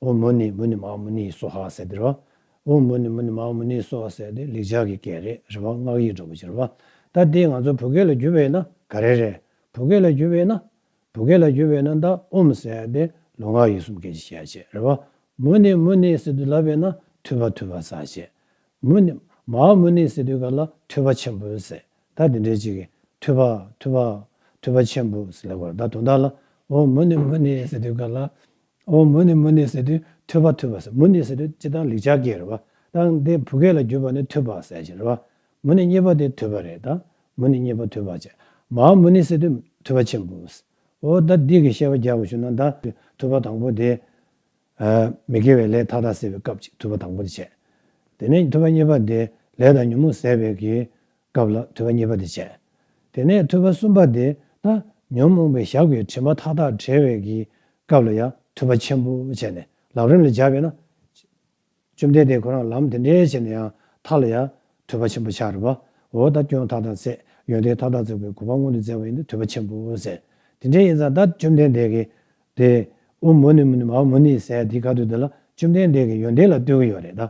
ཨོ་མོ་ནི་མོ་ནི་མའོ་མོ་ནི་ཡི་སོ་ཧ་ཟེར་དེ་རེད་བ། ཨོ་མོ་ནི་མོ་ནི་མའོ་མོ་ནི་ཡི་སོ་ཧ་ཟེར་དེ་ལེགས་སྦྱར་གྱི་སྐད་རེད་རེད་བ་སྔགས་ཡིག་སྒྲོག་པ་ཅི་རེད་བ། ད་དེ་ང་ཚོ་བོད་སྐད་ལ་བསྒྱུར་བས་ན་ག་རེ་རེད། བོད་སྐད་ལ་བསྒྱུར་བས་ན། བོད་སྐད་ལ་བསྒྱུར་བས་ན་མདའ་ཨུམ་ཟེར་དེ་ལུས་ངག་ཡིད་གསུམ་སྐད་ཀྱི་ཤེས་བྱེད་རེད་བ། མོ་ནི་མོ་ནི་ཟེར་དུས་ལབ་བས་ན་འཐུས་པ་འཐུས་པ་ཟ་བྱེད། མོ་ནི། མའོ་མོ་ནི་ཟེར་དུས་ག་ལ་འཐུས་པ་ཆེན་པོ་ཟེར། ད་དེ་འདྲའི་ཅིག་གིས་འཐུས་པ། འཐུས་པ། འཐུས་པ་ཆེན་པོ་ཟེར་ལེགས་བར་ད་དོ་ད་ལ། ཨོ་མོ་ནི་མོ་ནི་ཟེར་དུས་ག་ལ། ཨོ་མོ་ནི་མོ་ནི་ཟེར་དུས་ཐོས་པ་ཐོས་པ་ཟེར་མོ་ནི་ཟེར་དུས་སྤྱི་དང་ལེགས་ཆ་གས་རེད་བ་དང་དེ་བུ་གས་ལ་བརྒྱུས་པ་ནི་ཐོས་པ་ཟེར་བྱས་རེད་བ་མོ་ནི་རྙེད་པ་དེ་ཐོས་པ་རེད་དང་མོ་ནི་རྙེད་པ་ཐོས་པ་བྱས་མ་ཨོ་མོ་ནི་ཟེར་དུས་ཐོས་པ་ཆེན་པོ་ཟེར་ཨོ་ད་འདི་གི་ཤེས་པ་རྒྱག་དགོས་བྱུང་ན་ད་ཐོས་པ་དང་པོ་དེ་མི་དགེ་བའི་ལས་མཐའ་དག་སེལ་བའི་སྐབས་ཀྱི་ཐོས་པ་དང་པོ་དེ་བྱས་དེ་ནས་ཐོས་པ་གཉིས་པ་དེ་ལས་དང་ཉོན་མོངས་ཟད་པའི་གི་སྐབས་ལ་ཐོས་པ་གཉིས་པ་དེ་བྱས། དེ་ནས་ཐོས་པ་གསུམ་པ་དེ་ན་ཉོན་མོངས་པའི་ཞགས་པའི་དྲི་མ་མཐའ་དག་བྲལ་བའི་གི་སྐབས་ལ་ཡང་ཐོས་པ་ཆེན་པོ་བྱས་ནས་ལམ་རིམ་ལ་སྦྱར་བས་ན། བཅོམ་ལྡན་འདས་ཁོ་རང་ལམ་དེ་འདྲའི་བྱས་ནས་ཡང་དག་ལ་ཡང་ཐོས་པ་ཆེན་པོ་འཆར་བའོ། ད་སྐྱོན་མཐའ་དག་བསལ། ཡོན་ཏན་མཐའ་དག་རྫོགས་པའི་གོ་འཕང་མངོན་དུ་མཛད་པ་ཡིན་ཏེ་ཐོས་པ་ཆེན་པོ་བསལ། དེ་འདྲའི་ཡིན་ཙང་ད་བཅོམ་ལྡན་འདས་ཀྱིས་དེ། ཨུ་མུ་ནི་མུ་ནི་མ་ཨུ་མུ་ནི་ཟས་འདི་ག་དུས་འདི་ལ་བཅོམ་ལྡན་འདས་ཀྱི་ཡོན་ཏན་ལ་ལྟོས་ཀྱི་ཡོད་རེད་ད།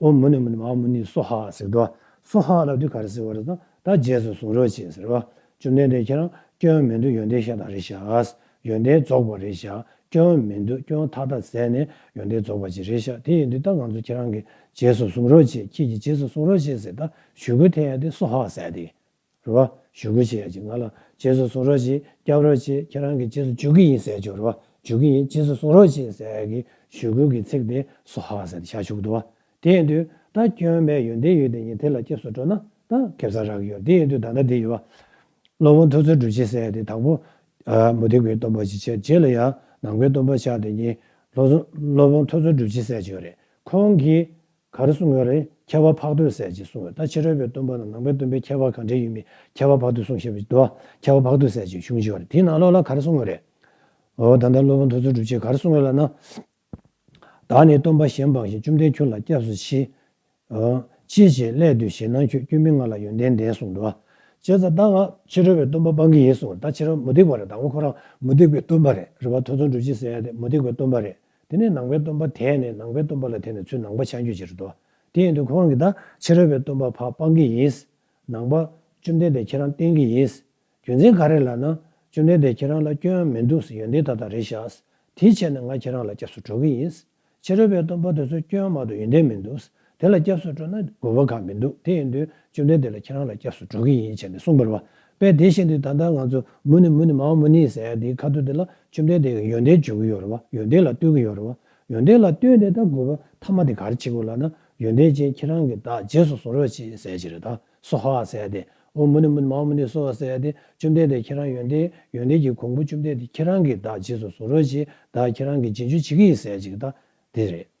ཨོ་མུ་ནི་མུ་ནི་མ་མུ་ནི་སོ་ཧ་ཟེར་དུ་སོ་ཧ་ལ་དུས་ག་རེ་ཟེར་བ་རེ་དང་ད་རྗེས་སུ་གཟུང་རོགས་བྱེད་ཟེར་བ། བཅོམ་ལྡན་འདས་ཁྱེད་རང་སྐྱོན་མེད་འདུག་ཡོན་ཏན་ཤ་སྟག་རེ་བཞག་ཡོན་ཏན་རྫོགས་པ་རེ་བཞག་སྐྱོན་མེད་འདུག་སྐྱོན་མཐའ་དག་བསལ་ནས་ཡོན་ཏན་རྫོགས་པ་ཅིག་རེ་བཞག་དེ་ཡིན་དུས་ད་ང་ཚོ་ཁྱེད་རང་གི་རྗེས་སུ་གཟུང་རོགས་བྱེད་ཁྱེད་ཀྱི་རྗེས་སུ་གཟུང་རོགས་བྱེད་ཟེར་ད་ཞུ་གུ་ཐེ་ཡ་དེ་སོ་ཧ་ཟེར་ཏེ། རེད་བ། ཞུ་གུ་བྱེད་ཡ་ཅིག་ང་ལ་རྗེས་སུ་གཟུང་རོགས་གྱིས་སྐྱབས་རོགས་གྱིས་ཁྱེད་རང་གི་རྗེས་སུ་འཇུག་གི་ཡིན་ཟེར་བྱུང་རེད་བ། འཇུག་གི་ཡིན་རྗེས་སུ་གཟུང་རོགས་གྱིས་ཟེར་གི་ཞུ་གུ་གི་ཚིག་དེ་སོ་ཧ་ཟེར་ཏེ་ཤར་བཅུག་འདུག་བ། དེ་ཡིན་དུས་ད་ཁྱོད་བལ་ཡུལ་འདི་ཡོད་དེ་ཉིན་དེ་ལ་སྐྱབས་སུ་འགྲོ་ན་ད་ཁེབས་ཚར་རག་གི་ཡོད་དེ་ཡིན་དུས་ད་ལྟ་འདི་ཡོད་བ། སློབ་དཔོན་ཐུགས་རྩོལ་སྒྲུབ་ཅིག་ཟེར་ཏེ་དང་པོ། མུ་ཏིག་བའི་གཏོར་འབུལ་ཅིག་བྱས་རྗེས་ལ་ཡང་ནང་པའི་གཏོར་འབུལ་ཕྱག་དེ་ཉིན། སློབ་དཔོན་ཐུགས་རྩོལ་སྒྲུབ་ཅིག་ཟེར་བྱུང་རེད་ཁོང་གིས། ག་རེ་སུ་ངོས་རེད་ཁྱད་པར་འཕགས་འདོད་ཟད་ཅེས་གསུངས་ཡོད་ད་ཕྱི་རོལ་པའི་སྟོན་པ་དང་ནང་པའི་སྟོན་པའི་ཁྱད་པར་གང་འདྲའི་ཡོད་མེད་ཁྱད་པར་འཕགས་འདོད་གསུངས་ཞེས་པ་ཞིག་འདུག་ཨ་ཁྱད་པར་འཕགས་འདོད་ཟད་ཅེས་གཞུང་བཞི་བ་རེད་དེའི་ནང་ལོགས་ལ་ག་རེ་སུ་ངོས་རེད། འོ་ད་ལྟ་སློབ་དཔོན་ཐུགས་རྩོལ་སྒྲུབ་བྱེད་ག་རེ་སུ་ངོས་ལ་ན། བདག་ནི་སྟོན་པ་གཞན་འབངས་བཞིན་བཅོམ་ལྡན་ཁྱོད་ལ་སྐྱབས་སུ་མཆི། འོ། ཅི་བྱེད་སླད་དུ་ཞེ་སྣང་ཁྱོད་སྐྱོན་མེད་ང་ལ་ཡོན་ཏན་ལྡན་གསུངས་འདུག་ཨ། ཅེས་ད་ལྟ་ང་ཕྱི་རོལ་བའི་སྟོན་པ་སྤང་གི་ཡིན་གསུངས་ད་ཕྱི་རོལ་མུ་སྟེགས་པ་རེད་ད་ངོ་ཁོ་རང་མུ་སྟེགས་པའི་སྟོན་པ་རེད་རེད་བ་ཐུགས་རྩོལ་སྒྲུབ་བྱེད་ཟེར་ཡ་དེ་མུ་སྟེགས་པའི་སྟོན་པ་རེད། དེ་ནས་ནང་པའི་སྟོན་པ་དེས་ནི་ནང་པའི་སྟོན་པ་ལ་དེ་ནི་ཚུལ་ནང་པ་ཕྱག་རྒྱུད་ཅེས་བསྒྲོ། དེ་ཡིན་དུ་ཁོང་གིས་ད་ཕྱི་རོལ་པའི་སྟོན་པ་འཕགས་སྤང་གི་ཡིན། ནང་པ། བཅོམ་ལྡན་འདས་ཁྱེད་རང་བསྟན་གྱི་ཡིན། རྒྱུ་མཚན་ག་རེ་ལགས་ན། བཅོམ་ལྡན་འདས་ཁྱེད་རང་ལ་སྐྱོན་ཡང་མི་འདུག་ཡོན་ཏན་དག་དང་རེ་བཞག། དེའི་ཕྱིར་ན་ང་ཁྱེད་རང་ལ་སྐྱབས་སུ་འགྲོ་གི་ཡིན། ཕྱི་རོལ་པའི་སྟོན་པ་དེ་ཚོ་སྐྱོན་ཡང་མ་འདུག་ཡོན་ཏན་མི་འདུག། དེ་ལ་སྐྱབས་སུ་འགྲོ་ན་དགོས་པ་གང་མི་འདུག་དེ་ཡིན་དུས་བཅོམ་ལྡན་འདས་ལ་ཁྱེད་རང་ལ་སྐྱབས་སུ་འགྲོ་གི་ཡིན་བྱས་ནས་གསུངས་པར་བ་པས་དེ་ཤེས་དུས་ད་ལྟ་ང་ཚོ་མུ་ནི་མུ་ནི་མཱ་མུ་ནི་ཟེར་དེའི་ཁ་ཐུག་དེ་ལ་བཅོམ་ལྡན་འདས་ཀྱི་ཡོན་ཏན་བརྗོད་ཀྱི་ཡོད་རེད་བ་ཡོན་ཏན་ལ་ལྟོས་ཀྱི་ཡོད་རེད་བ་ཡོན་ཏན་ལ་ལྟོས་ནས་ད་དགོས་པ་མཐའ་མ་དེ་གར་བྱེད་དགོས་ལ་ན་ཡོན་ཏན་ཅན་ཁྱེད་རང་གི་བདག་རྗེས་སུ་གཟུང་རོགས་བྱེད་ཟེར་གྱི་རེད་ད་སོ་ཧ་ཟེར་དེ་འོ་མུ་ནི་མུ་ནི་མཱ་མུ་ནི་སོ་ཟེར་དེ་བཅོམ་ལྡན་འདས་ཁྱེད་རང་ཡོན་ཏན་ཡོན་ཏན་གྱི་གོང་བུ་བཅོམ་ལྡན་འདས་ཁྱེད་རང་གི་བདག་རྗེས་སུ་གཟུང་རོགས་བྱེད་ད་ཁྱེད་རང་གི་རྗེས་འཇུག་བྱེད་ཀྱི་ཡིན་ཟེར་གྱི་རེད་ད་དེ་རེད།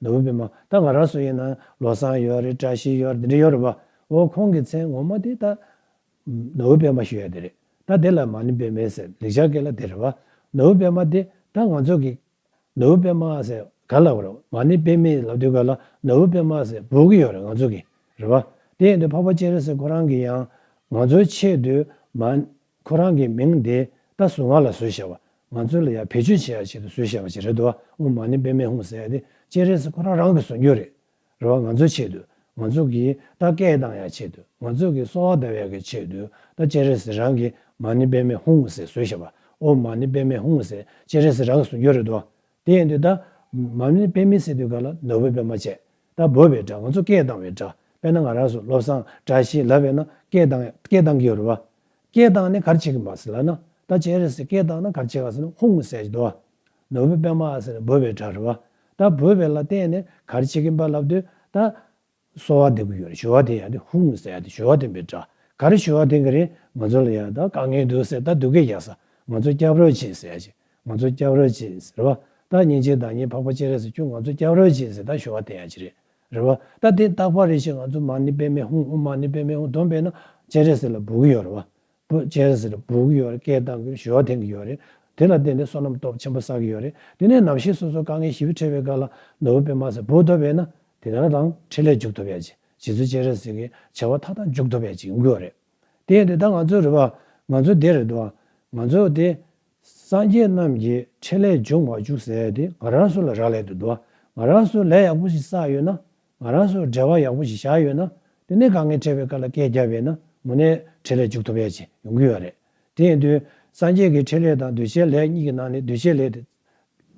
ནོར་བུ་པདྨ་ད་ང་རང་སུ་ཡིན་ནམ་བློ་བཟང་ཡོད་རེད་བཀྲ་ཤིས་ཡོད་རེད་འདི་འདྲ་ཡོད་རེད་བ། འོ་ཁོང་གི་མཚན་ངོ་མ་དེ་ད་ནོར་བུ་པདྨ་ཞུ་ཡ་དེ་རེད་ད་དེ་ལ་མ་ནི་པདྨའི་ཟེར་ལེགས་ཆ་སྐད་ལ་དེ་རེད་བ། ནོར་བུ་པདྨ་དེ་ད་ང་ཚོ་གི་ནོར་བུ་པདྨ་ཟེར་ག་ལ་བ་རེད་མ་ནི་པདྨའི་ལབ་དུས་ག་ལ་ནོར་བུ་པདྨ་ཟེར་བོར་གི་ཡོད་རེད་ང་ཚོ་གི་རེད་བ། དེ་ཡིན་དུས་འཕགས་པ་སྤྱན་རས་གཟིགས་ཁོ་རང་གི་ཡང་ང་ཚོའི་ཆེད་དུ་མ་ཁོ་རང་གི་མིང་དེ་ད་གཟོད་ང་ལ་བཟོས་བཞག་བ། ང་ཚོའི་ལ་ཡར་བེད་སྤྱོད་བྱེད་ཡག་ཞིག་ཏུ་བཟོས་བཞག་པ་ཞིག་རེད་འདུག་ཨ་འོ་མ་ནི་པད་མའི་ཧུང་ཟེར་ཏེ་སྤྱན་རས་གཟིགས་ཁོ་རང་རང་གིས་བཟོ་རྒྱུ་རེད། རེ་བ་ང་ཚོའི་ཆེད་དུ། ང་ཚོ་གིས་ད་སྐད་གདངས་ཡག་ཆེད་དུ་ང་ཚོ་གིས་གསོ་བ་བདེ་བ་ཡག་གི་ཆེད་དུ་ད་སྤྱན་རས་གཟིགས་རང་གིས་མ་ནི་པད་མའི་ཧུང་ཧུང་ཟེར་བཟོས་བཞག་བ་ཨོ་མ་ནི་པད་མའི་ཧུང་ཧུང་ཟེར་སྤྱན་རས་གཟིགས་རང་གིས་བཟོ་རྒྱུ་རེད་འདུག་ཨ་དེ་ཡིན་དུས་ད། མར་མེ་དཔེ་མི་སྲིད་དུས་ག་ལ་ནོར་བུའི་དཔེ་མ་བྱས། ད་འབོད་པའི་སྒྲ་ང་ཚོ་སྐད་གདངས་བའི་སྒྲ་དཔེར་ན་ང་རང་སུ་བློ་བཟང་བཀྲ་ཤིས་ལབ་བས་ན་སྐད་གདངས་སྐད་གདངས་ཀྱི་རུ་བ། སྐད་གདངས་ནི་གར་བྱེད་ཀྱི་མ་ཟེར་ལ་ན། ད་ཇེ་རེ་སི་སྐད་གདངས་ན་གར་བྱེད་ག་ཟེར་ན་ཧུང་གསལ་གྱི་དོ་བ། ནོར་བུའི་དཔེ་མ་ཟེར་ན་འབོད་པའི་སྒྲ་རུ་བ། ད་འབོད་པའི་ལ་བརྟེན་ནས་གར་བྱེད་ཀྱི་འབའ་ལབ་དུས་ད། གསོལ་བ་འདེབས་ཀྱི་ཡོད་རེད་ཞོ་བ་དེ་ཡག་དེ་ཧཱུྃ་ཟེར་ཡག་དེ་ཞོ་བ་དེ་འབེབས་དྲག་ག་རེ་ཞོ་བ་དེ་ག་རེ་ང་ཚོ་ལ་ཡག་ད་དཀའ་ངལ་འདུག་ཟེར་ད་སྡུག་སྐད་རྒྱག་ས་ང་ཚོ་སྐྱབས་རོགས་བྱེད་ཟེར་ཞིག་ང་ཚོ་སྐྱབས་རོགས་བྱེད་ཟེར་བ་ད་ཉིན་གཅིག་བདག་ཉིད་འཕགས་པ་སྤྱན་རས་སུ་ཁྱོད་ང་ཚོ་སྐྱབས་རོགས་བྱེད་ཟེར་ད་ཞོ་བ་དེ་ཡག་ཅི་རེད་རེད་བ་ད་དེ་རྟག་པ་རེད་ཞིག་ང་ཚོ་མ་ནི་པད་མའི་ཧཱུྃ་ཧཱུྃ་མ་ནི་པད་མའི་ཧཱུྃ་དོན་དཔེ་ན་སྤྱན་རས་གཟིགས་ལ་འབུལ་གྱི་ཡོད་རེད་བ་པོ་ཅན་ཟེར་སྦུག་གི་ཡོད་རེད་སྐད་གདངས་ཀྱི་ཞོ་འཐེན་གྱི་ཡོད་རེད། དེ་ལ་བརྟེན་ཏེ་བསོད་ནམས་སྟོབས་ཆེན་པོ་བསགས་ཀྱི་ཡོད་རེད། དེ་ནས་ནམ་ཞིག་སོ་སོར་དཀའ་ངལ་ཞི་བི་འཕྲད་པའི་སྐབས་ལ་ནོར་བུ་པད་མ་ཟེར་སྦུག་ཐོབ་པས་ན་དེ་ལྟར་དང་འཕྲིན་ལས་འཇུག་ཐུབ་ཡ་ཇི་ཇི་ཚོད་ཅེས་རེད་ཟེར་གི་བྱ་བ་མཐའ་དག་འཇུག་ཐུབ་ཡ་ཇི་དགོས་རེད། དེ་ཡིན་དུས་ད་ང་ཚོའི་རེད་བ། ང་ཚོའི་དེ་རེད་བ། ང་ཚོའི་དེ། སངས་རྒྱས་རྣམས་ཀྱིས་འཕྲིན་ལས་འཇུག་མ་བཅུག་ཟེར་ཏེ་ང་རང་སུ་ལ་རག་ལས་དུ་བསྡུ་བ། ང་རང་སུ་ལས་ཡག་པོ་ཞིག་བསགས་ཡོད་ན། ང་རང་ཚོར་འབྲེལ་བ་ཡག་པོ་ཞིག་བཞག་ཡོད་ན། དེ་ནས་ག་ངའི་འཕྲད་པའི་སྐབས་ལ་སྐད་བརྒྱབ་ཡོད་ན་མུ་ནས་འཕྲེད་ལས་འཇུག་ཐུབ་པ་ཡ་ཆེ་ཡོང་གི་ཡོད་རེད། དེ་ཡིན་དུས། སངས་རྒྱས་ཀྱི་འཕྲེད་ལས་དང་འདུ་བྱེད་ལས་གཉིས་ཀྱི་ནང་ནས་འདུ་བྱེད་ལས་དེ།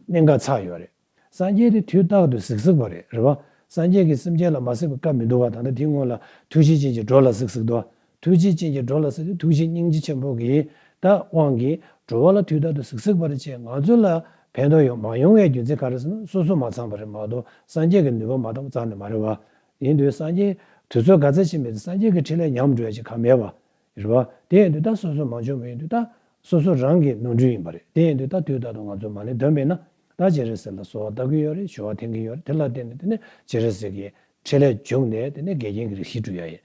གནད་འགག་ཚགས་ཡོད་རེད། སངས་རྒྱས་དེ་དུས་རྟག་ཏུ་ཟིག་ཟིག་པོ་རེད་རེད་བ། སངས་རྒྱས་ཀྱི་སེམས་ཅན་ལ་མ་ཟིག་པའི་སྐབས་མི་འདུག་བ་ད་ལྟ་དེའི་སྔོན་ལ་ཐུགས་རྗེ་ཅན་གྱི་འགྲོ་ལ་ཟིག་ཟིག་འདུག་བ། ཐུགས་རྗེ་ཅན་གྱིས་འགྲོ་ལ་གཟིགས་ཏེ་ཐུགས་རྗེ་སྙིང་རྗེ་ཆེན་པོ་གིས་བདག་དབང་གིས་འགྲོ་བ་ལ་དུས་རྟག་ཏུ་གཟིགས་གཟིགས་པ་རེད་ཅེས་ང་ཚོ་ལ་ཕན་ཐོགས་ཡོང་མ་ཡོང་བའི་རྒྱུ་མཚན་ག་རེ་ཟེར་ན་སོ་སོ་མ་ཚང་བ་རེད་མ་གཏོགས་སངས་རྒྱས་ཀྱི་ནུས་པ་མ་བཏང་བ་ཙམ་ནས་མ་རེད་བ། ཡིན་དུས་སངས་རྒྱས་དུས་ཚོད་ག་ཚད་ཕྱིན་མེད་ཚེ་སངས་རྒྱས་ཀྱི་ཕྲིན་ལས་ཉམས་འགྲོ་ཡ་ཅི་ག་མེད་བ། རེད་བ། དེ་ཡིན་དུས་ད་སོ་སོ་མ་འབྱོར་བ་ཡིན་དུས་ད་སོ་སོ་རང་གིས་ནོར་འཁྲུལ་ཡིན་པ་རེད་དེ་ཡིན་དུས་ད་དུས་རྟག་ཏུ་ང་ཚོ་མ་ལེན་འདོན་པས་ན་ད་ཇེ་རེད་ཟེར་ལ་སོ་བ་ལྟ་གི་ཡོད་རེད་ཞོ་བ་འཐེན་གི་ཡོད་རེད་དེ་ལ་བརྟེན་ནས་དེ་ནས་ཇེ་རེད་ཟེར་གྱིས་ཕྲིན་ལས་འཇུག་ནས་དེ་ནས་འགལ་རྐྱེན་གྱི་རིགས་ཤིག་བསྐྲུན་ཡ་ཡིན།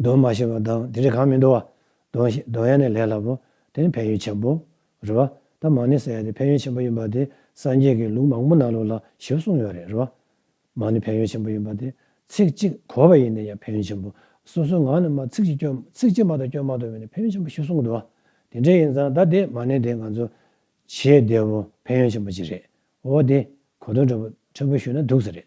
གདོན་མ་ཞེས་པ་དང་དེ་འདྲའི་གང་མི་འདོར་བ། གདོན་ཞེས་གདོན་ཡ་ནི་ལས་སླ་པོ། དེ་ནི་ཕན་ཡོན་ཆེན་པོ། རེད་བ། ད་མ་ནི་ཟེར་ཡ་དེ་ཕན་ཡོན་ཆེན་པོ་ཡིན་པ་དེ་སངས་རྒྱས་ཀྱི་ལུགས་མང་པོ་ནང་ལུགས་ལ་ཞིབ་གསུངས་ཡོད་རེད་རེད་བ། མ་ནི་ཕན་ཡོན་ཆེན་པོ་ཡིན་པ་དེ། ཚིག་གཅིག་གོ་བ་ཡིན་ན་ཡང་ཕན་ཡོན་ཆེན་པོ། སོ་སོའི་ངག་ནས་མ་ཚིག་གཅིག་སྐྱོན་ཚིག་གཅིག་མ་དང་སྐྱོན་མ་དོར་བས་ནི་ཕན་ཡོན་ཆེན་པོ་ཞིབ་གསུངས་གི་འདུག་བ། དེ་འདྲ་ཡིན་ཙང་ད་དེ་མ་ནི་དེ་ང་ཚོ། བྱེད་བདེ་བོ་ཕན་ཡོན་ཆེན་པོ་གཅིག་རེད་བ། འོ་དེ་གོ་དོན་འཕྲོད་པོ་འཕྲོད་པོ་ཞུས་ན་སྡུག་ས་རེད།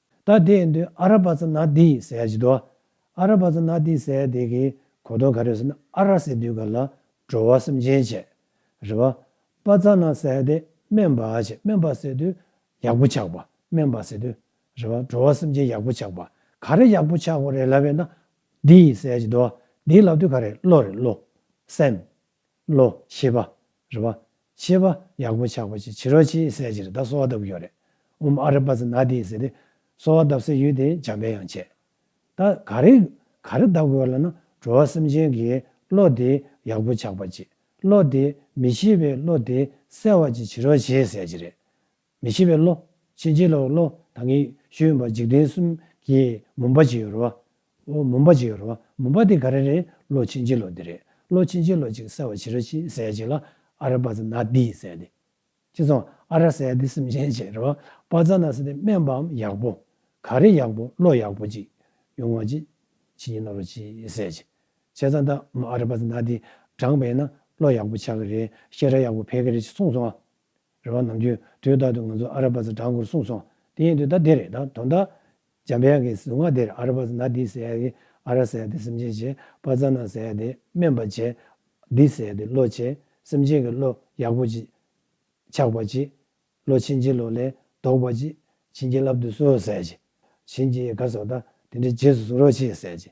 ད་དེ་ཡིན་དུས་ཨ་ར་བ་ཚ་ན་དེ་ཡིས་ཟས་ཇི་དོ། ཨ་ར་བ་ཚ་ན་དེ་ཟས་དེ་གི་གོ་དོ་ག་རེད་ཟེར་ན་ཨ་ར་ཟས་དུས་ག་ལ་བྲོ་བ་སེམས་ཅན་བྱས། རེད་བ། བ་ཚ་ན་ཟས་དེ་སྨན་བ་བྱས་སྨན་བ་ཟས་དུས་ཡག་པོ་ཆགས་པ་སྨན་བ་ཟས་དུས། རེད་བ་བྲོ་བ་སེམས་ཅན་ཡག་པོ་ཆགས་པ་ག་རེ་ཡག་པོ་ཆགས་པ་རེད་ལབ་ཡོད་ན་དེ་ཡིས་ཟས་ཇི་དོ། དེ་ལབ་དུས་ག་རེད་བློ་རེད་བློ། སེམས། བློ། ཤེས་པ། རེ་བ། ཤེས་པ། ཡག་པོ་ཆགས་པ་ཅི་ཕྱིར་རོ་ཅིའི་གསལ་ཕྱིར་ད་གསོལ་བ་བཏབ་ཀྱི་ཡོད་རེད་འམ་ཨ་རེ་པ་ཚེ་ན་དེའི་ཟེར་ཏེ། གསོལ་བ་བཏབ་སའི་ཡུལ་དེ་འཇམ་དཔལ་ཡང་བྱས། ད་ག་རེ། ག་རེ་བཏབ་དགོས་ལ་ན་འགྲོ་བ་སེམས་ཅན་གྱི་བློ་དེ་ཡག་པོ་ཆགས་པ་ཅི་བློ་དེ་མི་ཤེས་པའི་བློ་དེ་གསལ་བ་ཅི་ཕྱིར་རོ་ཞེས་གསལ་ཕྱིར་རེད། མི་ཤེས་པའི་བློ། ཕྱིན་ཅི་ལོག་གི་བློ་དང་ངེས་ཤེས་ཡོད་པ་འཇིག་རྟེན་གསུམ་གྱི་མུན་པ་གཅིག་ཡོད་རེད། འོ་མུན་པ་གཅིག་ཡོད་རེད། མུན་པ་དེ་ག་རེ་རེད་བློ་ཕྱིན་ཅི་ལོག་འདི་རེད། བློ་ཕྱིན་ཅི་ལོག་ཅིག་གསལ་བ་བྱེད་ར་ཅིག་གསལ་ཅིག་ལ། ཨ་ར་པ་ཛ་ན་དི་གསལ་ཏེ། ཅི་ཙང་ཨ་ར་གསལ་ཏེ་སེམས་ཅན་ཅེས་རེད་བ། པ་ཛ་ན་གསལ་ཏེ་སྨན་པའམ་ཡག་པོ། ག་རེ་ཡག་པོ་བློ་ཡག་པོ་ཅིག་ཡོང་བ་ཅིག་ཕྱིན་ཅི་ལོག་ར་ཅིག་གསལ་ཅིག་བྱས་ཙང་ད་ཨ་ར་པ་ཛ་ན་དི་བགྲངས་པས་ན་བློ་ཡག་པོ་ཆགས་ཀྱི་རེད་ཤེས་ར་ཡག་པོ་འཕེལ་གྱི་རེད་ཅེས་གསུངས་སོང་ཨ། རེ་བ་ནམ་རྒྱུན་དུས་རྟག་ཏུ་ང་ཚོ་ཨ་ར་པཱ་ཟ་གྲང་སྐོར་གསུངས་སོང་དེ་ཡིན་དུས་ད་དེ་རེད་ད་དོན་དག། འཇམ་དཔལ་གྱི་གཟུངས་སྔགས་དེར་ཨ་ར་པཱ་ཟ་ན་འདི་ཟེར་ཡ་དེ་ཨ་ར་ཟེར་ཡ་དེ་སེམས་ཅན་བྱེད་པ་རྩ་ན་ཟེར་ཡ་དེ་སྨན་པ་བྱེད། འདི་ཟེར་ཡ་དེ་བློ་བྱེད་སེམས་ཅན་གྱི་བློ་ཡག་པོ་བྱེད། ཆགས་པ་བྱེད། བློ་ཕྱིན་ཅི་ལོག་ལས་ལྡོག་པ་བྱེད། བྱིན་གྱིས་བརླབ་ཏུ་གསོལ་ཟེར་གྱི། བྱིན་གྱིས་ག་སོགས་དང་དེ་འདྲའི་རྗེས་སུ་གཟུང་རོགས་བྱེད་ཟེར་གྱི།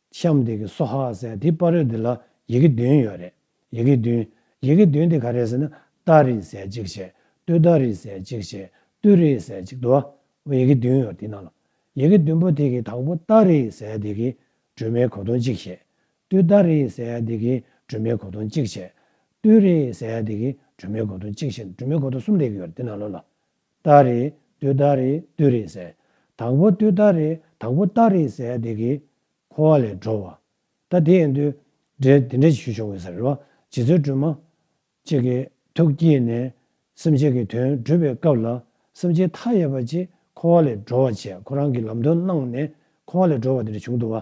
ཤམ་འདེགས་ཀྱི་སོ་ཧ་ཟེར་ཡ་དེའི་པར་རོལ་འདི་ལ་ཡི་གེ་བདུན་ཡོད་རེད། ཡི་གེ་བདུན། ཡི་གེ་བདུན་དེ་ག་རེད་ཟེར་ན། ཏཱ་རི་ཟེར་གཅིག་བྱས། ཏུ་ཏཱ་རི་ཟེར་གཅིག་བྱས། ཏུ་རི་ཟེར་གཅིག་འདུག་ཨ། ཡི་གེ་བདུན་ཡོད་དེ་ནང་ལ། ཡི་གེ་བདུན་པོ་དེ་གི་དང་པོ་ཏཱ་རི་ཟེར་དེ་གིས་སྒྲོལ་མའི་གོ་དོན་གཅིག་བྱས། ཏུ་ཏཱ་རི་ཟེར་དེ་གིས་སྒྲོལ་མའི་གོ་དོན་གཅིག་བྱས། ཏུ་རི་ཟེར་དེ་གིས་སྒྲོལ་མའི་གོ་དོན་གཅིག་བྱས་ནས་སྒྲོལ་མའི་གོ་དོན་གསུམ་ལས་ཡོད་རེད་དེ་ནང་ལོ་ལ། རྟགས་རེད་དུས་རྟགས་རེད་དུས་རེད་ཟེར། དང་པོ་དུས་རྟགས་རེད་དང་པོ་རྟགས་རེད་ཟེར་བསྡད་ཀི། འཁོར་བ་ལས་འགྲོ་བ། ད་དེ་ཡིན་དུས། འདྲེ་དེ་འདྲ་ཞུས་བྱུང་གི་ཟེར་རེད་བ། རྗེ་བཙུན་སྒྲོལ་མ། ཅིག་གི་ཐུགས་བསྐྱེད་ནས། སེམས་ཅན་གི་དོན་སྒྲུབ་པའི་སྐབས་ལ། སེམས་ཅན་མཐའ་ཡས་པ་ཅིག་འཁོར་བ་ལས་འགྲོ་བ་བྱས་ཁོ་རང་གི་ལམ་སྟོན་གནང་ནས་འཁོར་བ་ལས་འགྲོ་བ་དེ་འདྲ་བྱུང་འདུག་བ།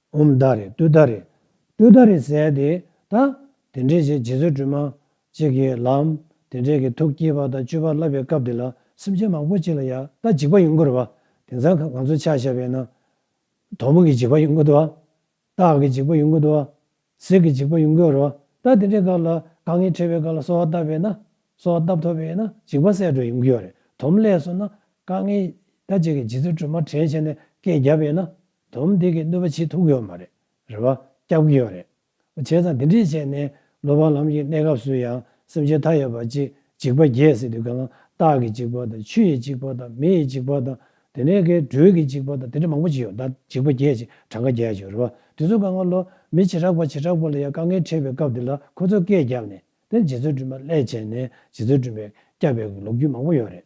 བུམ་བདག་རེད་སྟོད་བདག་རེད། སྟོད་བདག་རེད་ཟེར་ཏེ་ད། དེ་འདྲའི་རྗེ་བཙུན་སྒྲོལ་མ། གཅིག་གི་ལམ། དེ་འདྲའི་གི་ཐུགས་བསྐྱེད་པ་དང་སྤྱོད་པ་བསླབ་པའི་སྐབས་འདི་ལ་སེམས་ཅན་མང་པོ་གཅིག་ལ་ཡ་ལྟ་འཇིགས་པ་ཡོང་གི་རེད་བ། དེང་སང་གང་གང་ཚོ་ཆ་བཞག་པའི་ནང། དོག་མོ་གི་འཇིགས་པ་ཡོང་གི་འདུག་བ། སྟག་གི་འཇིགས་པ་ཡོང་གི་འདུག་བ། གཟིག་གི་འཇིགས་པ་ཡོང་གི་རེད་བ། ད་དེ་འདྲའི་སྐབས་ལ་དཀའ་ངལ་འཕྲད་པའི་སྐབས་ལ་གསོལ་བ་བཏབ་པས་ན། གསོལ་བ་བཏབ་ཐོབ་པས་ན་འཇིགས་པ་བསལ་འགྲོ་ཡོང་གི་ཡོད་རེད་དོ། དོམ་ལས་སོ་ན། དཀའ་ངལ། ད་ཅིག་གི་རྗེ་བཙུན་སྒྲོལ་མ་དྲན་བྱས་ནས་སྐད་བརྒྱབ་པས་ན། དོམ་སྡེ་དགེ་གནོད་པ་ཆེ་ཐུག་གི་ཡོད་མ་རེད། རེ་བ་བསྐྱབས་ཀྱི་ཡོད་རེད། བྱས་ཙང་དེ་འདྲས་བྱས་ནས་ལོ་པང་ལམ་གྱི་གནས་སྐབས་སུ་ཡང་སེམས་ཅན་མཐའ་ཡས་པ་གཅིག་འཇིག་པ་བརྒྱད་ཟེར་དུས་གང་ལ་སྟག་གི་འཇིག་པ་དང་ཆུ་ཡི་འཇིག་པ་དང་མི་ཡི་འཇིག་པ་དང་དེ་ནས་ཀའི་སྦྲུལ་གྱི་འཇིག་པ་དང་དེ་འདྲས་མང་པོ་ཅིག་ཡོད་ད་འཇིག་པ་བརྒྱད་ཅིག་གྲངས་ཀ་བརྒྱད་ཅིག་རེད་བ་དེ་ཚོ་གང་ལ་ལོ། མི་བྱེ་བྲག་པ་བྱེ་བྲག་པོ་ལ་ཡང་དཀའ་ངལ་འཕྲད་པའི་སྐབས་དེ་ལ་ཁོ་ཚོས་སྐད་བརྒྱབ་ནས་དེར་རྗེ་བཙུན་སྒྲོལ་མ་ལྷས་བྱས་ནས་རྗེ་བཙུན་སྒྲོལ་མས་བསྐྱབས་པའི་ལོ་རྒྱུས་མང་པོ་ཡོད་རེད།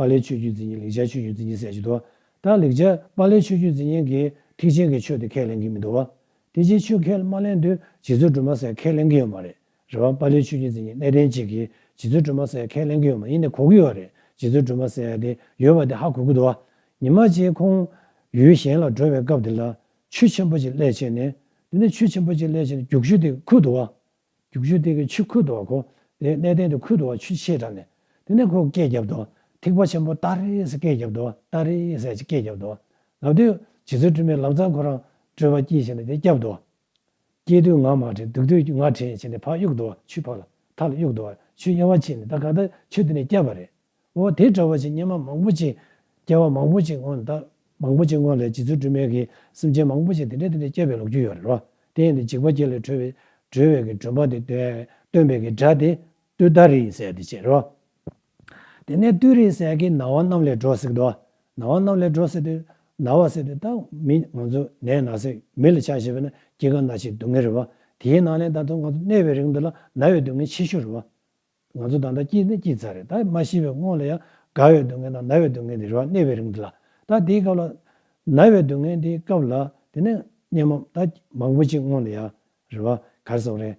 པཱ་ལིའི་ཆོས་བརྒྱུད་འཛིན་མཁན་ལེགས་སྦྱར་ཆོས་བརྒྱུད་འཛིན་མཁན་ཟེར་གྱི་འདུག་ད་ལེགས་སྦྱར་པཱ་ལིའི་ཆོས་བརྒྱུད་འཛིན་མཁན་གྱིས་ཐེག་ཆེན་གྱི་ཆོས་དེ་ཁས་ལེན་གྱི་མི་འདུག་བ། དེ་ཅིའི་ཕྱིར་ཁས་མ་ལེན་དུས་རྗེ་བཙུན་སྒྲོལ་མ་སེང་ཁས་ལེན་གྱི་ཡོད་མ་རེད་རེད་བ། པཱ་ལིའི་ཆོས་བརྒྱུད་འཛིན་མཁན་གནས་བརྟན་གཅིག་གིས་རྗེ་བཙུན་སྒྲོལ་མ་སེང་ཁས་ལེན་གྱི་ཡོད་མ་ཡིན་ནི་གོ་གི་ཡོད་རེད་རྗེ་བཙུན་སྒྲོལ་མ་སེང་དེ་ཡོད་པ་དེ་ཧ་གོ་གི་འདུག་བ། ཉི་མ་གཅིག་ཁོང་ཡུལ་གཞན་ལ་འགྲོ་བའི་སྐབས་དེ་ལ་ཆུ་ཆེན་པོ་གཅིག་ཀླད་ཕྱེ་ནས། དེ་ནས་ཆུ་ཆེན་པོ་གཅིག་ཀླད་ཕྱེ་ནས་རྒྱུགས་ཆུ་དེ་ཁུར་འདུག་བ། རྒྱུག་ཆུའི་སྟེང་གི་ཆུ་ཁུ་དོག་གོ། ལས་གནས་སྟེང་དུ་ཁུ་དོག་ཆུ་ཆེ་དྲགས་ནས། དེ་ནས་ཁོ་སྐད་བརྒྱབ་དོ། ཐིགས་པ་ཆེན་པོ་ཏཱ་རེ་ཧེ་སི་ཀས་བརྒྱབ་དོ་ཏཱ་རེ་ཧེ་སི་ཨ་ཅི་ཀས་བརྒྱབ་དོ། ལབ་དུས། རྗེ་བཙུན་དྲི་མེད་ལམ་རྩར་ཁོ་རང་བྲོས་པ་སྐྱེས་བྱས་ནས་དེ་བསྐྱབས་དོ། སྐྱེས་དུས་ངག་མ་བྲན་སྡུག་དུས་ངག་བྲན་བྱས་ནས་ཕག་གཡུག་དོ་ཆུའི་ཕག་ལ། ཐག་ལ་གཡུག་དོ། ཆུའི་དབྱེ་བ་ཕྱེས་ནས་ད་ག་ད་ཆུ་དེ་ནས་བསྐྱབས་པ་རེད། འོ་དེ་འདྲ་བ་ཅིག་སྙེ་མ་མང་པོ་ཅིག། སྐྱེ་བ་མང་པོ་ཅིག་སྔོན་ད། མང་པོ་ཅིག་སྔོན་ལས་ཇི་ཚོད་སྦྲུལ་སྨན་གྱིས་སེམས་ཅན་མང་པོ་ཅིག་དེ་འདྲའི་དེ་འདྲའི་སྐྱེ་བའི་ལོག་རྒྱུ་ཡོད་རེད་རོ། དེ་ཡིན་དུ་འཇིགས་པ་སྐྱེ་ལས་གྲོལ་བའི་གྲོལ་བའི་གི་འགྲོན་པ་དེ་སྟོན་པའི་གི་སྒྲ་དེ། ཏུ་ད་རི་ཡི་ཟས་དེ་བྱེད་རོ། དེ་ནས་ཏུ་རིའི་ཟས་ཀྱིས་ན་བ་རྣམས་ལས་སྒྲོ་བསྲེགས་ཏོ། ན་བ་རྣམས་ལས་སྒྲོ་བསྲེགས་ཏེ། ན་བ་བསྲེགས་ཏེ་ད་མི་ང་ཚོ་ནས་ན་བསྲེགས་མི་ལ་ཆགས་ཞེས་པས་ན་སྐྱེ་རྒ་ན་འཆིའི་སྡུག་བསྔལ་རེད་རོ། དེའི་ནང་ནས་ད་ཚོ་ང་ཚོ་གནས་པའི་རིང་དུ་ལ་ན་བའི་སྡུག་བསྔལ་ཆེ་ཤོས་རེད་རོ། ང་ཚོ་ད་ལྟ་སྐྱིད་ན་སྐྱིད་ཚར་རེད་ད་མ་ཤི་བའི་སྔོན་ལ་ཡང་དགའ་བའི་སྡུག་བསྔལ་དང་ན་བའི་སྡུག་བསྔལ་དེ་རེ་བ་གནས་པའི་རིང་དུ་ལ་ད་དེའི་སྐབས་ལ། ན་བའི་སྡུག་བསྔལ་དེའི་སྐབས་ལ་དེ་ནས་གཉན་མོ་ད་མང་པོ་ཅིག་སྔོན་ལ་ཡང་རེ་བ་གར་སོང་རེད་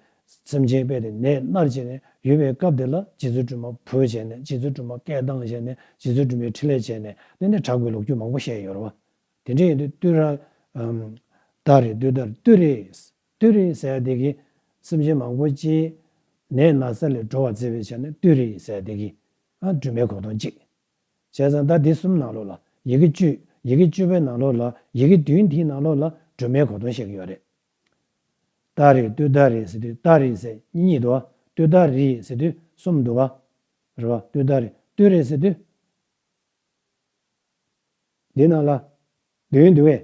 སེམས་ཅན་དཔེ་དེ་ནད་མནར་བྱས་ནས་ཡོད་པའི་སྐབས་དེ་ལ་སྤྱི་ཚོགས་སྐྲུན་མ་ཕོད་བྱས་ནས་སྤྱི་ཚོགས་སྐྲུན་མ་སྐད་གདངས་བྱས་ནས་སྤྱི་ཚོགས་སྐྲུན་པའི་ཁྲི་ལས་བྱས་ནས་དེ་ནས་དྲག་པའི་ལོ་རྒྱུས་མང་པོ་བཤད་ཡོད་རེད་བ། དེ་འདྲ་ཡིན་དུས་སྟོད་ར། རྡ་རེད་སྟོད་རྡ་རེད་སྟོད་རེད། ཏུའུ་རི་ཡི་སའི་བདེ་སྐྱིད། སེམས་ཅན་མང་པོ་སྤྱིའི་ནད་ན་ཚ་ལས་སྒྲོལ་བར་བརྩེ་བའི་ཆ་ནས་ཏུའུ་རི་ཡི་སའི་བདེ་སྐྱིད། སྦྲུམ་མའི་གོ་སྟོང་གཅིག། བྱས་ཙང་ཟླ་འདི་གསུམ་ནང་ལོགས་ལ་ཡི་གེ་བཅུ། ཡི་གེ་བཅུ་པའི་ནང་ལོགས་ལ་ཡི་གེ་བདུན་དེའི་ནང་ལོགས་ལ་སྦྲུམ་མའི་གོ་སྟོང་བཤད་ཀྱི་ཡོད་རེད། ཏཱ་རེ་ཏུའུ་ཏཱ་རེ་སི་ཏུའུ་ཏཱ་རི་སེ་གཉིས་འདུག་བ། ཏུའུ་ཏཱ་རི་སི་ཏུའུ་གསུམ་འདུག་བ། རེད་བ། ཏུའུ་ཏཱ་རེ་ཏུའུ་རེ་སི་ཏུའུ། དེའི་ནང་ལ་བདུན་འདུག་བས།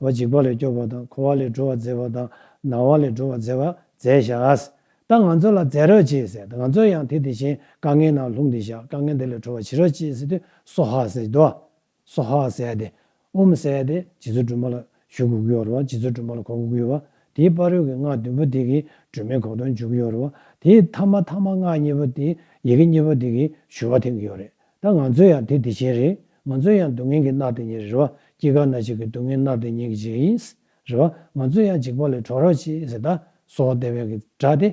བ་འཇིགས་པ་ལས་སྐྱོབ་པ་དང་འཁོར་བ་ལས་སྒྲོལ་བར་མཛད་པ་དང་ནང་བ་ལས་སྒྲོལ་བར་མཛད་པ་མཛད་བཞག། ད་ང་ཚོ་ལ་མཛད་རོགས་ཅེས་ཟེར་ད་ང་ཚོ་ཡང་དེ་དེ་བཞིན་དཀའ་ངལ་ནང་ལྷུང་སྟེ་བཞག་དཀའ་ངལ་འདི་ལས་གྲོལ་བར་བྱེད་རོགས་ཅེས་ཟེར་དུས་སོ་ཧ་ཟེར་དོ། སོ་ཧ་ཟེར་ཏེ། ཨུམ་ཟེར་ཏེ་རྗེ་བཙུན་སྒྲོལ་མ་ལ་ཞུ་གུ་གུ་ཡོང་རོགས་རྗེ་བཙུན་སྒྲོལ་མ་ལ་གོ་གུ་གུ་ཡོང་བ། དེའི་དཔའ་རོལ་གྱི་སྔགས་བདུན་པོ་དེ་གིས་སྒྲོལ་མའི་གོ་དོན་འཇུག་གི་ཡོང་རོགས། དེའི་ཐ་མ་ཐ་མ་སྔགས་གཉིས་པོ་དེ་ཡི་གེ་གཉིས་པོ་དེ་གིས་ཞུ་བ་འཐེན་གི་ཡོང་རེད། ད་ང་ཚོས་ཡང་དེ་དེ་བྱས་རེད། ང་ཚོས་ཡང་སྡུག་བསྔལ་གྱི་རྣག་དེ་ཉེ་རེད་བ། སྐྱེ་རྒ་ན་འཆི་གི་སྡུག་བསྔལ་རྣག་དེ་ཉེ་གི་བྱས་ཡིན། རེད་བ། ང་ཚོས་ཡང་འཇིགས་པ་ལས་གྲོལ་རོགས་བྱས་ཟེར་ད་སོ་ཧ་དེ་བས་གི་དྲག་སྟེ།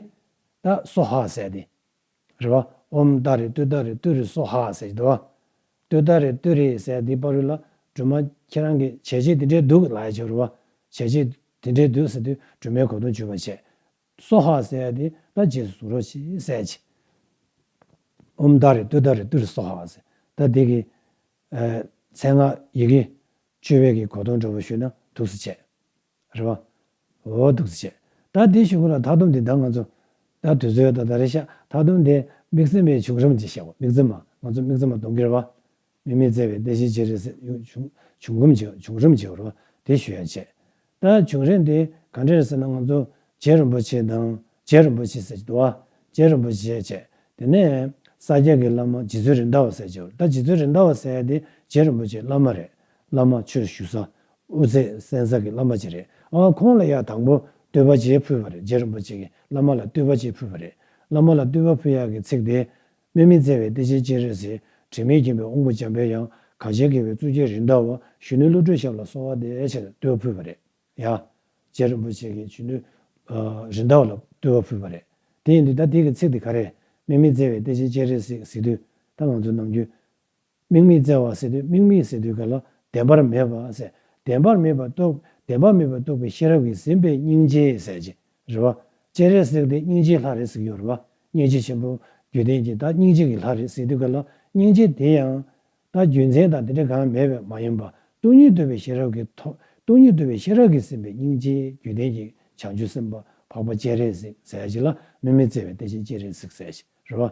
ད་སོ་ཧ་ཟེར་ཏེ། རེད་བ། འོམ་ད་རེ་ཏུ་ད་རེ་ཏུ་རེ་སོ་ཧ་ཟེར་གྱི་འདུག་བ། ཏུ་ད་རེ་ཏུ་རེ་ཟེར་དེའི་པར་རིས་ལ་སྦྲུམ་མ་ཁྱེད་རང་གི་བྱས་རྗེས་དེ་འདྲའི་འདུག་ལགས་བྱས་རོགས་བ། བྱས་རྗེས་དེ་འདྲའི་འདུག་ཟེར་དུས་སྦྲུམ་མའི་གོ་དུང་བྱུས་པར་བྱས། སོ་ཧ་བསལ་ཏེ་ད་རྗེས་སུ་ཟུག་རོ་ཞེས་བསལ། ཅི་འོམ་ད་རེ་ཏུ་ད་རེ་ཏུ་རེ་སོ་ཧ་བསལ། ད་དེ་གི། མཚན་སྔགས་ཡི་གེ། བཅུ་བས་ཀྱི་གོ་དོང་སྒྲོ་བོ་ཞུ་ན་དུགས་སུ་བྱས། རེ་བ། འོ་དུགས་སུ་བྱས། ད་དེ་ཞུ་གོ་ལ་ད་དོམ་དེ་ད་ང་ཚོ། ད་དུས་ཚོད་ད་ད་རེ་ཤ་ད་དོམ་དེ་མིག་ཚིམ་པའི་བྱུག་རམ་ཅི་བྱ་བ་མིག་ཚིམ་མ་ང་ཚོ་མིག་ཚིམ་མ་དུང་གེར་བ། མི་མེད་བཙལ་བའི་དཔེ་བཞིན་ཅི་རིགས་སེམས། བྱུང་རིམ་གྱི་བྱུང་རིམ་གྱི་རོ་དེ་ཞུ་ཡང་ཆད། ད་བྱུང་རིམ་དེ་ག་འདྲ་རེད་ཟེར་ན་ང་ཚོ་རྗེ་རིན་པོ་ཆེ་དང་རྗེ་རིན་པོ་ཆེ་ཟེར་གྱི་འདུག་ཨ། རྗེ་རིན་པོ་ཆེ་བྱས་དེ་ནས་ས་སྐྱ་གི་བླ་མ་རྗེ་བཙུན་རིན་ཟླ་བ་ཟེར་གྱི་ད་རྗེ་བཙུན་རིན་ཟླ་བ་ཟེར་དེ་རྗེ་རིན་པོ་ཆེ་བླ་མ་རེད་བླ་མ་ཆོས་ཞུ་ས་དབུ་ཚད་གསན་ས་གི་བླ་མ་ཅིག་རེད་ཨ་ཁོང་ལ་ཡག་དང་པོ་བསྟོད་པ་ཅིག་ཕུལ་བ་རེད་རྗེ་རིན་པོ་ཆེ་གི་བླ་མ་ལ་བསྟོད་པ་ཅིག་ཕུལ་བ་རེད་བླ་མ་ལ་བསྟོད་པ་ཕུལ་ཡག་གི་ཚིག་དེ་སྨད་མི་བཙལ་བའི་དཔེ་ཆའི་སྤྱན་རས་གཟིགས། དྲི་མེད་མཁྱེན་པའི་དབང་པོ་འཇམ་དཔལ་དབྱངས། གངས་ཅན་དགེ་བའི་གཙུག་རྒྱན་རིན་ཐང་བ། གཞོན་ནུའི་བློ་གྲོས་ཞབས་ལ་གསོ་བ་འདེབས། ཅེས་བསྟོད་ཕུལ་བ་རེད་ཡ། རྗེ་རིན་པོ་ཆེ་གིས་གཞོན་ནུ། རིན་ཐང་བ་ལ་བསྟོད་བ་ཕུལ་བ་རེད། དེ་ཡིན་དུས་ད་ཐེངས་ཀྱི་ཚིག་དེ་ག་རེ། སྨད་མི་བཙལ་བའི་དཔེ་ཆའི་སྤྱན་རས་གཟིགས། དེ་ང་ཚོའི་ནམ་རྒྱུན། དམིགས་མེད་བཙལ་བ་ཟེར་དུས་དམིགས་མེད་ཟེར་དུས་ག་ལ་བདེན་པར་མེད་པ་ཟེར། བདེན་པར་མེད་པར་རྟོགས། བདེན་པར་མེད་པར་རྟོགས་པའི་ཤེས་རབ་ཀྱིས་ཟིན་པའི་སྙིང་རྗེའི་ཟེར་གྱི། རེ་བ། ཅེས་རེ་གཟིགས་ཏེ་སྙིང་རྗེའི་ལྷ་རེ་གཟིགས་ཡོད་རེ་བ། སྙིང་རྗེ་ཆེན་པོ། རྒྱུད་ལྡན་གྱིས་ད་སྙིང་རྗེ་གི་ལྷ་རེ་གཟིགས་དུས་ག་ལ་སྙིང་རྗེ་དེ་ཡང། ད་རྒྱུ་མཚན་དང་དེ་འདྲ་གང་མེད་པས་མ་ཡིན་པར་སྟོང་ཉིད་རྟོལ་བའི་ཤེས་རབ་ཀྱིས་ཐོབ། སྟོང་ཉིད་རྟོལ་བའི་ཤེས་རབ་ཀྱིས་ཟིན་པའི་སྙིང་རྗེ་རྒྱུད་ལྡན་གྱི་བྱང་ཆུབ་སེམས་དཔའ་འཕགས་པ་ཅེས་རེ་གཟིགས་ཟེར་གྱི་ལ་དམིགས་མེད་བཙལ་བའི་དེ་བཞིན་ཅེས་རེ་གཟིགས་ཟེར་གྱི། རེ་བ།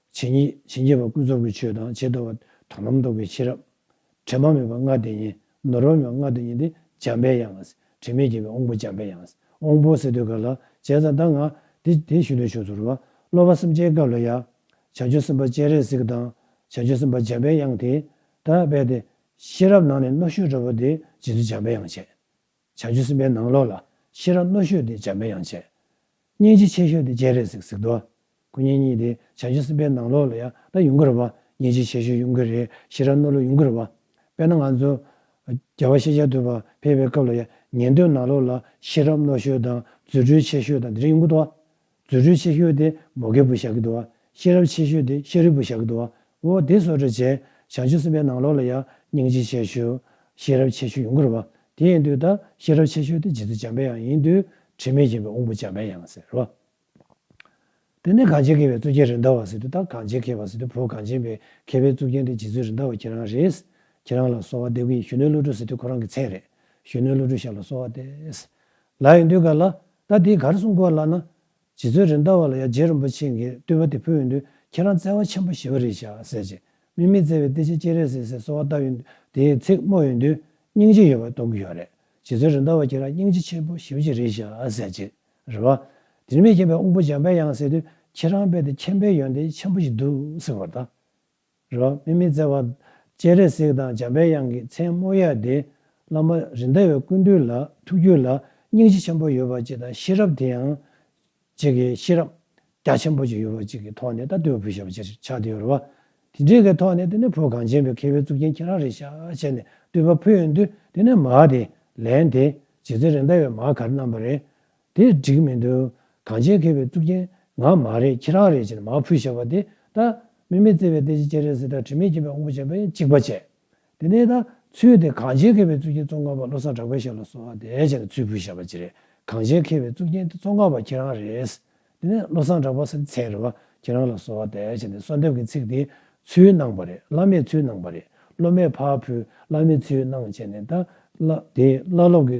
ཇི་སྙེད་ཇི་སྙེད་པ་ཀུན་རྫོབ་ཀྱི་ཆོས་དང་བྱེད་དོ་བ་དོ་ལམ་རྟོགས་པའི་ཕྱིར་རམ། དྲི་མ་མེད་པ་ལྔ་དེ་ཉིད་ནོར་བ་མེད་པ་ལྔ་དེ་ཉིད་དེ་འཇམ་དཔལ་ཡང། དྲི་མེད་རྒྱལ་བའི་དབང་པོ་འཇམ་དཔལ་ཡང། དབང་པོ་སེ་སྟོད་ག་ལ་བྱས་ཙང་ད་ང། དེ་དེ་ཞུ་འདོད་ཆོས་ཚོར་བ། སློབ་མ་སེམས་ཅན་སྐབས་ལ་ཡང། བྱང་ཆུབ་སེམས་དཔའ་སྤྱན་རས་གཟིགས་དང། བྱང་ཆུབ་སེམས་དཔའ་འཇམ་དཔལ་དབྱངས་དེས། ད་དཔལ་ཏེ། ཤེས་རབ་ནང་ནས་རྣོ་ཤོས་སྤྲོ་བ་དེས་རྗེ་བཙུན་འཇམ་དཔལ་དབྱངས་བྱས། བྱ་རྒྱུ་གསུམ་པའི་ནང་ལོགས་ལ་ཤེས་རབ་རྣོ་ཤོས་དེ་འཇམ་པའི་དབྱངས་བྱེད། སྙིང་རྗེ་ཆེ་ཤོས་དེ་སྤྱན་རས་གཟིགས་གཟིགས་མདོ། སྐུ་བརྙན་གཉིས་དེ་བྱ་རྒྱུ་གསུམ་པའི་ནང་ལོགས་ལ་ཡང་ད་ཡུངས་ཀར་བ། སྙིང་རྗེ་ཆེ་ཤོས་ཡུངས་ཀར་རེད་ཤེས་རབ་རྣོ་ལོ་ཡུངས་ཀར་བ། དཔེར་ན་ང་ཚོ། རྒྱལ་བ་ཤེས་བྱ་ཐུབ་པ་ཕེབས་པའི་སྐབས་ལ་ཡང་ཉན་ཐོས་ནང་ལོགས་ལ་ཤེས་རབ་རྣོ་ཤོས་དང་རྫུ་འཕྲུལ་ཆེ་ཤོས་དང་དེ་རིང་ཡུངས་ཀར་བ། རྫུ་འཕྲུལ་ཆེ་ཤོས་དེ་མོ་རྒད་པོ་ཞྭ་གི་དུ་བ། ཤེས་རབ་ཆེ་ཤོས་དེ་ཤ་རིལ་བུ་ཞྭ་གི་དུ་བ། འོ་དེ་སོགས་འདྲ་བྱས། བྱང་ཆུབ་སེམས་དཔའི་ནང་ལོགས་ལ་ཡང་སྙིང་རྗེ་ཆེ་ཤོས། ཤེས་རབ་ཆེ་ཤོས་ཡུངས་ཀར་བ། དེ་ཡིན་དུས་ད་ཤེས་རབ་ཆེ་ཤོས་དེ་རྗེ་བཙུན་འཇམ་དཔལ་ཡང་ཡིན་དུས་དྲི་མེད་རྒྱལ་པོའི་དབང་པོ་འཇམ་དཔལ་ཡང་ཟེར་རོ། དེ་ནས་གངས་ཅན་མཁས་པའི་གཙུག་རྒྱན་རིན་ཟླ་བ་ཟེར་དུས་ད་གངས་ཅན་མཁས་པ་ཟེར་དུས་བོད་གངས་ཅན་པའི་མཁས་པའི་གཙུག་རྒྱན་དེ་རྗེ་བཙུན་རིན་ཟླ་བ་ཁྱེད་རང་རེད། ཁྱེད་རང་ལ་གསོལ་བ་འདེབས་ཀྱི་ཡིན་གཞོན་ནུའི་བློ་གྲོས་ཟེར་དུས་ཁོ་རང་གི་མཚན་རེད། གཞོན་ནུའི་བློ་གྲོས་ཞབས་ལ་གསོལ་བ་འདེབས། ལ་ཡང་འདུས་ག་ལ། ད་འདི་གར་གསུང་དཀོན་ལགས་ན། རྗེ་བཙུན་རིན་ལྟ་བ་ལ་ཡ་རྗེ་རིན་པོ་ཆེ་འགས་བསྟོད་པ་དེ་ཕུལ་ཡོད་འདུག་ཁྱེད་རང་བརྩེ་བ་ཆེན་པོ་ཞི་བ་རིག་བྱ་ཟེར་ཅིག་མི་མི་བརྩེ་བའི་སྟེ་ཆེ་སྐྱེས་རེད་ཟེར་ཟེར་གསོལ་བ་བཏབ་ཡོད་འདུག་དེའི་ཚིག་སྨོས་ཡོད་འདུག་སྙིང་རྗེ་ཡོད་པར་གཏོང་གི་ཡོད་རེད་རྗེ་བཙུན་རིན་ལྟ་བ་ཁྱེད་རང་སྙིང་རྗེ་ཆེན་པོ་ཞི་བ་ཅིག་རིག་བྱ་ཟེར་ཅིག་རེད་བ། དྲིན་མེད་མཁྱེན་པའི་དབང་པོ་འཇམ་དཔལ་དབྱངས་ཟེར་དུས་ཁྱེད་རང་རྦད་དེ་མཁྱེན་པའི་ཡོན་ཏན་ཆེན་པོ་ཞིག་འདུག་ཟེར་བར་ད་རོ། སྨིན་མི་བརྩེ་བ། སྤྱན་རས་གཟིགས་དང་འཇམ་པའི་དབྱངས་ཀྱི་མཚན་སྨོད་ཡལ་ཏེ། བླ་མ་རིན་ཟླ་བའི་ཀུན་འདུས་ལ་ཐུགས་རྒྱུད་ལ་སྙིང་རྗེ་ཆེན་པོ་ཡོད་པ་གཅིག་དང་ཤེས་རབ་དེ་ཡང། གཅིག་གི་ཤེས་རབ་རྒྱ་ཆེན་པོ་གཅིག་ཡོད་པ་གཅིག་གི་ཐོག་ནས་ད་ལྟོས་བུ་ཞབས་པ་ཅིར་ཆགས་དེ་ཡོད་རེད་བ། དེ་འདྲའི་གི་ཐོག་ནས་དེ་ནས་བུ་གངས་ཅན་པའི་མཁས་པའི་གཙུག་རྒྱན་ཁྱེད་རང་རེད་ཤག་བྱས་ནས་བསྟོད་པ་ཕུལ་ཡོང་དུས་དེ་ནས་མ་དེ་ལན་དེ་རྗེ་བཙུན་རིན་ཟླ་བའི་མ་གར་རྣམས་པ་རེད། དེ་འགྲིག་མི་འདུག་གངས་ཅན་མཁས་པའི་གཙུག་རྒྱན་ང་མ་རེད་ཁྱེད་རང་རེད་ཅེས་མར་ཕུད་བཞག་པ་དེ་ད་སྨིན་མེད་བརྩེ་བའི་ལྟས་ཅི་ཅེས་རེད་ཟེར་ད་དྲི་མེད་མཁྱེན་པའི་དབང་པོ་བྱས་པས་གཅིག་པ་བྱས། དེ་ནས་ད་ཚུལ་དེ་གངས་ཅན་མཁས་པའི་གཙུག་རྒྱན་ཙོང་ཁ་པ་བློ་བཟང་གྲགས་པས་བཞག་ལ་གསོལ་བ་འདེབས་ཅེས་ད་ཚུལ་ཕུད་བཞག་པ་ཅི་རེད་གངས་ཅན་མཁས་པའི་གཙུག་རྒྱན་དེ་ཙོང་ཁ་པ་ཁྱེད་རང་རེད། དེ་ནས་བློ་བཟང་གྲགས་པ་སེམས་ཚེགས་རེད་བ་ཁྱེད་རང་ལ་གསོལ་བ་འདེབས་ཅེས་ད་གསོལ་འདེབས་ཀྱི་ཚིག་དེ་ཚུལ་གནང་བ་རེད་བླ་མས་ཚུལ་གནང་བ་རེད་སློབ་མས་ཕར་ཕུད་བླ་མས་ཚུལ་གནང་བྱས་ནས་ད་བླ་དེ་བླ་སློབ་ཀྱི་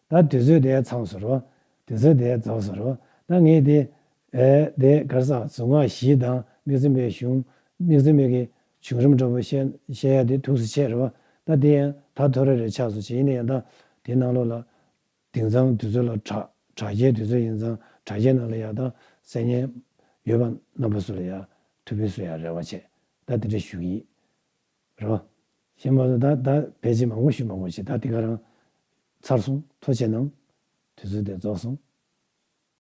ད་དུས་ཚོད་དེ་ཚང་ཟེར་རོ། དུས་ཚོད་དེ་རྫོགས་ཟེར་རོ། ད་ངས་དེ། དེ་གར་སྲ་གཟུགས་སྔགས་བཞི་དང་མིག་ཙེ་མའི་གཞུང། མིག་ཙེ་མིག་གི་བྱུང་རིམ་སྒྲོ་པོ་བཤད་ཡ་དེ་ཐུགས་སུ་ཆེ་རོ། ད་དེ་ཡང་ད་ཐོ་རེ་རེ་ཆགས་སུ་ཆེ་ཡིན་ན་ཡང་ད་དེ་ནང་ལོགས་ལ། དེང་སང་དུས་ཚོད་ལ་དྲག། དྲག་ཆའི་དུས་ཚོད་ཡིན་ཙང་དྲག་ཆའི་ནང་ལ་ཡང་ད་གསལ་ཉན། ཡོད་པ་རྣམ་པ་སུ་ལ་ཡང་ཐུགས་ཕུན་སུ་ཡང་རེ་བ་ཆེ། ད་དེ་འདྲ་ཞུ་གི་ཡིན། རོ། ཞེས་སྨྲ་ལོ། ད་ལྟ་བས་ཅི་མང་བོ་ཞུས་མ་གོ་ཅིག་ད་འདི་ག་རང། ཚར་སོང། ཐོ་ཆེ་གནང། དུས་ཚོད་དེ་རྫོགས་སོང།